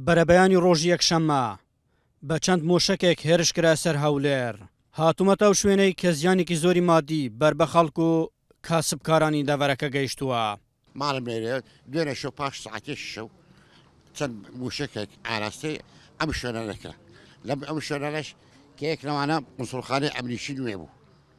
بەرەبەیانی ڕۆژی یەکشەممە، بە چەند مۆشەکێک هێرش کرایە سەر هەولێر. هاتوومەتە ئەو شوێنەی کە زیانێکی زۆری مادی بەر بە خەڵک و کاسبکارانی دەڤەرەکە گەیشتووە. ماڵم لێرەیە و دوێنێ شەو پاش سەعاتێکی شەو چەند مووشەکێک ئاراستەی ئەم شوێنانە کرا. لەم ئەم شوێنانەش کە یەک لەوانە موسڵخانەی ئەمنیی نوێ بوو،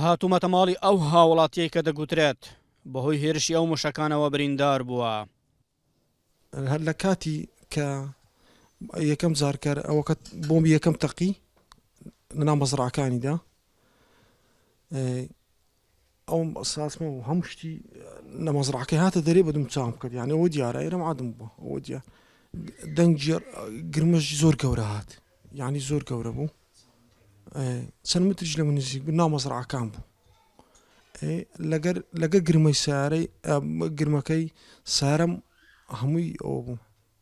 هاتوومەتە ماڵی ئەو هاوڵاتیەی کە دەگوترێت بەهۆی هێرشی ئەو موشەکانەوە بریندار بووە. هەر لە کاتی کە یەکەم جار کەر ئەوەکە بۆمبی یەکەم تەقی لە ناو مەزڕاکانیدا، ئەوم ساتمە و هەموو شتی لە مەزرعەکەی هاتە دەرێ بە دوم چاوم کرد یانەوە دیارە ئێرەم عادم بوو ئەوە دیار دەنگی گرمەش زۆر گەورە هات یعنی زۆر گەورە بوو چەند متریش لە من نزیک بوو ناو مەزرعەکان بوو لەگەر لەگە گرمەی سارەی گرمەکەی سارم هەمووی ئەوە بوو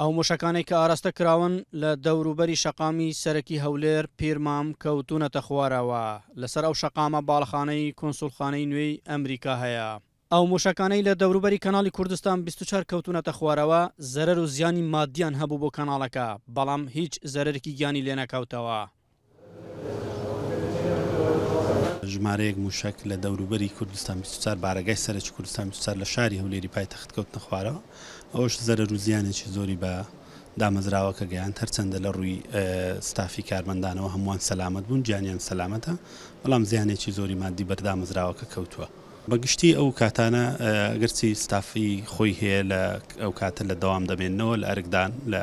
ئەو مووشەکانەی کە ئاراستە کراون لە دەوروبەری شەقامی سەرەکی هەولێر، پیرمام، کەوتوونەتە خوارەوە، لەسەر ئەو شەقامە باڵەخانەی کونسوڵخانەی نوێی ئەمریکا هەیە. ئەو مووشەکانەی لە دەوروبەری کەناڵی کوردستان بیست و چوار کەوتوونەتە خوارەوە، زەرەر و زیانی ماددیان هەبوو بۆ کەناڵەکە، بەڵام هیچ زەرەرێکی گیانی لێنەکەوتەوە. ژمارەیەک مووشەک لە دەوروبەری کوردستان بیست و چوار بارەگای سەرەکی کوردستان بیست و چوار لە شاری هەولێری پایتەخت کەوتنە خوارەوە، ئەوەش زەرەر و زیانێکی زۆری بە دامەزراوەکە گەیاند، هەرچەندە لە ڕووی ستافی کارمەندانەوە هەمووان سەلامەت بوون، گیانیان سەلامەتە، بەڵام زیانێکی زۆری ماددی بەر دامەزراوەکە کەوتووە. بە گشتی ئەو کاتانە ئەگەرچی ستافی خۆی هەیە لە ئەو کاتە لە دەوام دەمێننەوە لە ئەرکدان لە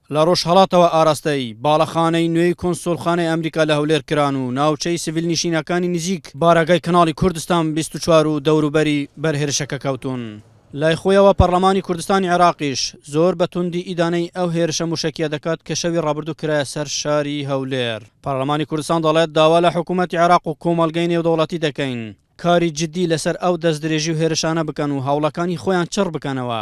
لە ڕۆژهەڵاتەوە ئاراستەی باڵەخانەی نوێی کونسوڵخانەی ئەمریکا لە هەولێر کران و ناوچەی سڤیل نشینەکانی نزیک بارەگای کەناڵی کوردستان بیست و چوار و دەوروبەری بەر هێرشەکە کەوتوون. لای خۆیەوە پەڕڵەمانی کوردستانی عێراقیش زۆر بە توندی ئیدانەی ئەو هێرشە موشەکیە دەکات کە شەوی ڕابردوو کرایە سەر شاری هەولێر. پەڕڵەمانی کوردستان دەڵێت داوا لە حکومەتی عێراق و کۆمەڵگەی نێودەوڵەتی دەکەین کاری جدی لەسەر ئەو دەستدرێژی و هێرشانە بکەن و هەوڵەکانی خۆیان چڕ بکەنەوە.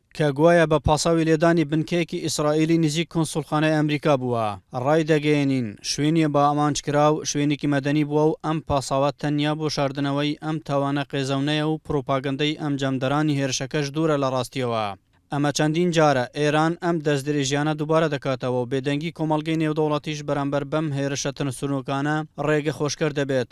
کە گوایە بە پاساوی لێدانی بنکەیەکی ئیسرائیلی نزیک کونسوڵخانەی ئەمریکا بووە. ڕایدەگەیەنین، شوێنی بە ئامانجکراو شوێنێکی مەدەنی بووە و ئەم پاساوە تەنیا بۆ شاردنەوەی ئەم تاوانە قێزەونەیە و پڕوپاگەندەی ئەنجامدەرانی هێرشەکەش دوورە لە ڕاستییەوە. ئەمە چەندین جارە ئێران ئەم دەستدرێژییانە دووبارە دەکاتەوە و بێدەنگی کۆمەڵگەی نێودەوڵەتیش بەرامبەر بەم هێرشە ترسنۆکانە ڕێگە خۆشکەر دەبێت.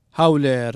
هەولێر.